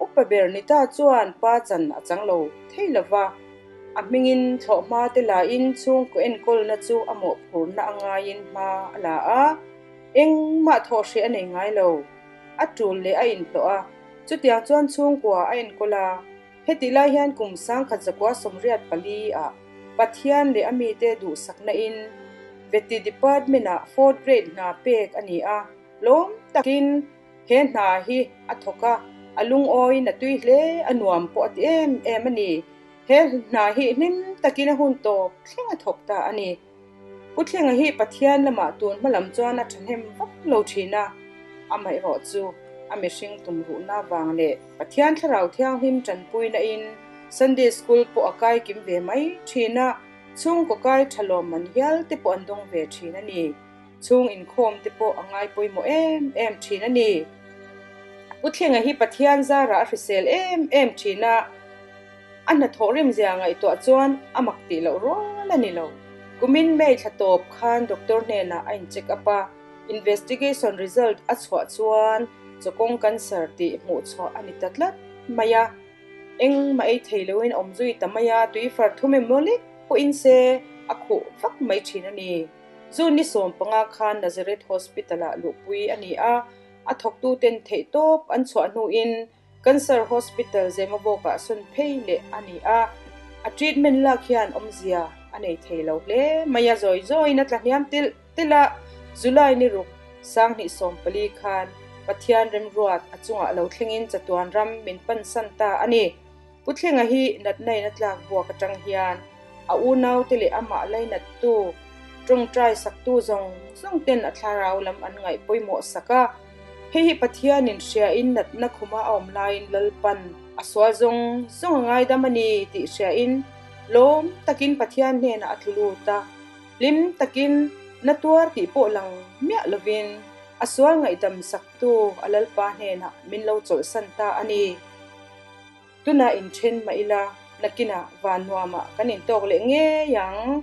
Upa Bernita chuan pa chan a chang lo thei lo va, a hmingin thlawh hma te lahin chhungkaw enkawlna chu a mawhphurna a ngaiin hma a la a, engmah thawh hreh a nei ngai lo. A tul leh a inhlawh a, chutiang chuan chhungkaw a enkawl a. Hetih lai hian kum sangkhat zakua sawmriat pali ah Pathian leh a mite duhsaknain Veti Department ah Fourth Grade hna pek a ni a, lawm takin, He hna hi a thawk a, a lungawiin a tui hle a nuam pawh a ti em em a ni. He hna hi hlim takin a hun tawp thleng a thawk ta a ni. Pu Thlenga hi Pathian lamah tun hma lam chuan a thahnem vak lo thin a, amaherawh chu a mihring tumruhna vang leh Pathian thlarau thianghlim tanpuinain Sunday School pawh a kaikim ve mai thin a, chhungkaw kai tha lawmman hialte pawh an dawng ve thin a ni. Chhung inkhawm te pawh a ngai pawimawh em em thin a ni. Pu Thlinga hi Pathian zara a hrisel em em thin a, a hna thawh rim zia ngaihtuah chuan a mak tih loh rual a ni lo. Kumin May thla tawp khan doctor hnenah a in check up a, investigation result a chhuah chuan chawkawng cancer tih hmuh chhuah a ni ta tlat mai a. Engmah ei thei loin a awm zui ta mai a, tui far thum em lolik pawhin se a khuh vak mai thin a ni. Chu ni sawm panga khan Nazareth Hospital-ah luhpui a ni a, a thawktuten theihtawp an chhuah hnuin Cancer Hospital Zemabawkah sawn phei leh a ni a, a treatment lak hian awmzia a nei thei lo hle mai a, zawi zawiin a tlahniam tilh tilh a, July ni ruk Sanghnih sawm pali khan Pathian remruat a chungah lo thlengin chatuan ram min pansan ta a ni. Pu Thlenga hi natnaina tlak buak atang hian a unaute leh amah lainattu, tawngtai saktu zawng zawngten a thlarau lam an ngaih pawimawh sak a. Hei hi Pathianin hriain natna khuma a awm laiin Lalpan a sual zawng zawng a ngaidam a ni tih hriain lawm takin Pathian hnenah a tlulut a. Hlim takin na tuar tih pawh lang miah lovin a sual ngaihdam saktu a Lalpa hnenah min lo chawlhsan ta a ni. Tunah in then mah ila, nakinah van nuamah kan in tawk leh ngei ang.